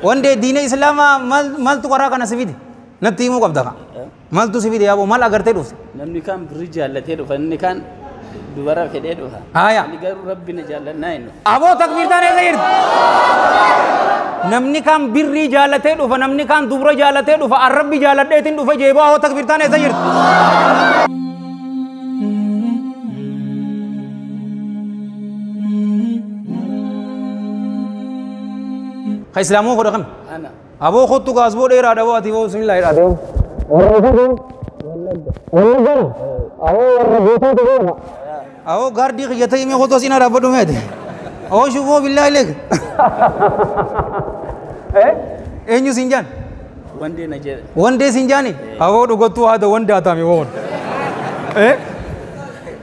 Wandee diina islaamaa mal- maltu karaa kana si fide natti himuu qabda ka maltu si fide yaaboo mal agartee dhufte Namni kaan birrii jaallatee dhufa, inni kaan dubara fedhee dhufa. Haaya. Ani garuu rabbi na jaallannaa hin dhufu. aboo takbiirtaan eessa jirti namni kaan birrii jaalatee dhufa namni kaan dubra jaalatee dhufa an rabbi jaaladheetiin dhufa jeeboo aboo takbiirtaan eessa jirti Ka islaamoo godha kami? Ana. Aboo kottu ka asboo dheeraa dhaboo ati boo bismillah jedha adeemu. Warra fagoo. Wallaggaa. Aboo warra gootaa ta'eera. Aboo gaardii kiyya ta'e mee kottu asiin dhaabbadhu mee ati. Aboo shufoo billaa ileeg. Eenyu siin jaan? Wandee na jedhe. Wandee siin jaani? Aboo dhugattuu haada wandaa taame woon.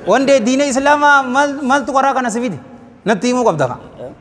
Wandee diina islaamaa maal- maaltu karaa kana si fide? Natti himuu qabda kaa.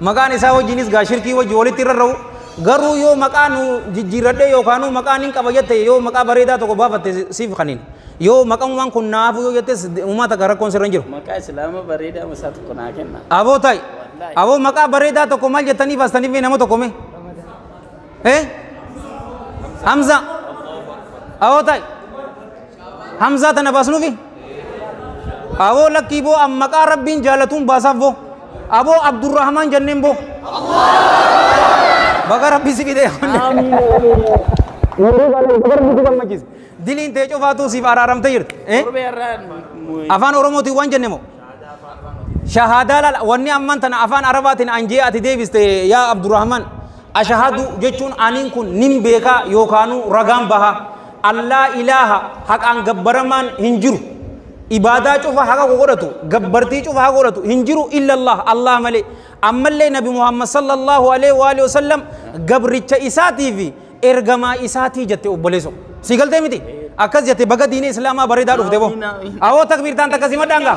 Maqaan isaa wajjiinis gaa shirkii wajji walitti rarra'u garuu yoo maqaa nu jijjiirradhee yookaanuu maqaa nin qaba jette yoo maqaa bareedaa tokko baafatte siif kaniin yoo maqamumaan kun naafuu yoo jettes uumaa takka rakkoon sirra hin jiru. Maqaa islaama bareedaa masaa tokko naa kenna. Aboo ta'i. Aboo maqaa bareedaa tokko maal jettanii baastaniif nama tokko mee? Eh? Hamza. Awoo ta'i. Hamzaa tana baasnuufi? Awoo lakkii boo an maqaa rabbiin jaalatuun baasaaf boo. Aboo Abdurrahmaan jenneen boo. Baga rabbi si fidee. Yeroo baala isa bara buutuu gammachiisa. Diliin tee cufaatuu siif araaramtee jirti. Eh? Afaan Oromootiin waan jenne moo? shahaadaa laal wanni amman tana afaan arabaatiin an jee ati deebiste yaa abdurrahman ashahadu jechuun aniin kun nin beekaa yookaanuu ragaan baha allaa ilaaha haqaan gabbaramaan hin jiru ibaadaa cufa haqa ko godhatu gabbartii cufa haqa godhatu hin jiru illallah allah malee ammallee nabi muhammad sallallahu alaihi wa alihi wasallam gabricha isaatii fi ergamaa isaatii jette obboleeso sii galtee miti akkas jette baga diinii islaamaa bareedaa dhufte boo awoo takbiirtaan takka simadhaan gaa